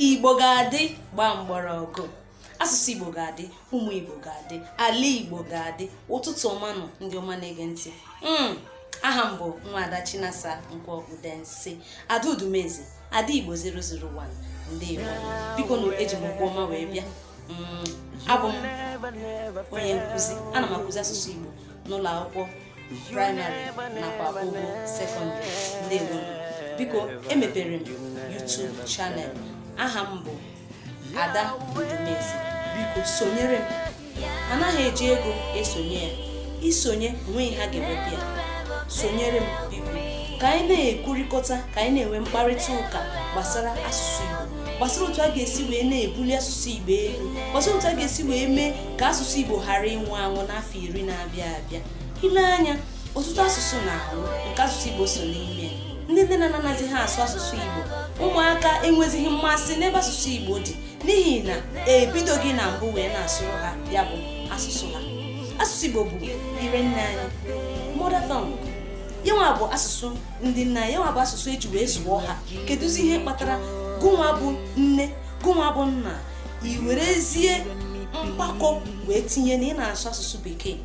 igbo ga-adị gbaa mgbọrọgwụ asụsụ igbo ga-adị ụmụ igbo ga-adị ala igbo ga-adị ụtụtụ ọma nụ ndị ọma na-ege ntị hmm, aha m bụ nwaada chinasa nkwọ udensi ada udumeze ada igbo 001 ndewo biko na eji m ụkwụ ọma wee bịa hmm, abụ m onye nkụzi ana m akụzi asụsụ igbo n'ụlọ akwụkwọ praịmarị nakwa ogo sekọndịrị ndewo biko emepere m YouTube channel aha m bụ Ada Udumeze biko sonyere m anaghị eji ego esonye ya isonye onweghị ha ga-enweta ya sonyere m biko ka anyị na-ekwurịkọta ka anyị na-enwe mkparịta ụka gbasara asụsụ Igbo gbasara otu a ga-esi wee na-ebuli asụsụ Igbo elu gbasara otu a ga-esi wee mee ka asụsụ Igbo ghara ịnwụ anwụ n'afọ iri na-abịa abịa ile anya ọtụtụ asụsụ na-anwụ nke asụsụ Igbo so n'ime ndị nne na nna anaghịzi ha asụ asụsụ Igbo ụmụaka enwezighị mmasị n'ebe asụsụ Igbo dị n'ihi na ebidoghị na mbụ wee na-asụrụ ha ya bụ asụsụ ha asụsụ Igbo bụ ire nne anyị mother tongue yanwa bụ asụsụ ndị nna anyị yanwa bụ asụsụ eji wee zụọ ha kedụzi ihe kpatara gụnwa bụ nne gụnwa bụ nna i werezie mkpakọ wee tinye na ị na-asụ asụsụ bekee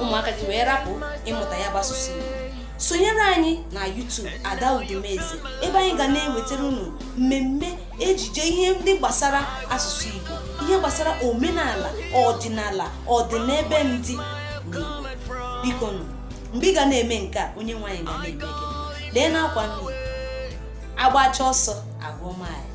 ụmụaka gị wee rapụ ịmụta ya bụ asụsụ Igbo sonyere anyị na YouTube Ada Udumeze ebe anyị ga na-ewetara unu mmemme ejije ihe ndị gbasara asụsụ Igbo ihe gbasara omenala ọdịnala ọdịnebe ndị biko nụ mgbe ị ga na-eme nke a onyenweanyị ga na-eme gị lee n'akwa nri agbacha ọsọ agụọ maịl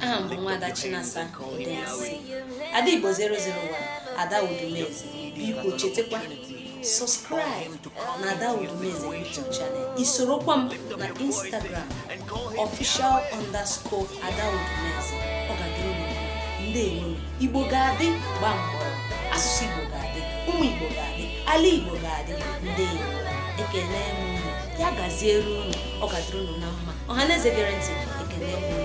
aha m bụ nwaada Chinasa Udensi ada Igbo 001 ada Udumeze biko chetakwa subscribe na ada Udumeze YouTube channel isorokwa m na Instagram official underscore ada Udumeze ọ ga-adịrị unu ndewo Igbo ga-adị gbaa mgbọrọgwụ asụsụ Igbo ga-adị ụmụ Igbo ga-adị ala Igbo ga-adị ndewo ekele m ya gaziere unu ọ ga-adịrị unu na mma ọha na eze gere ntị ekele m unu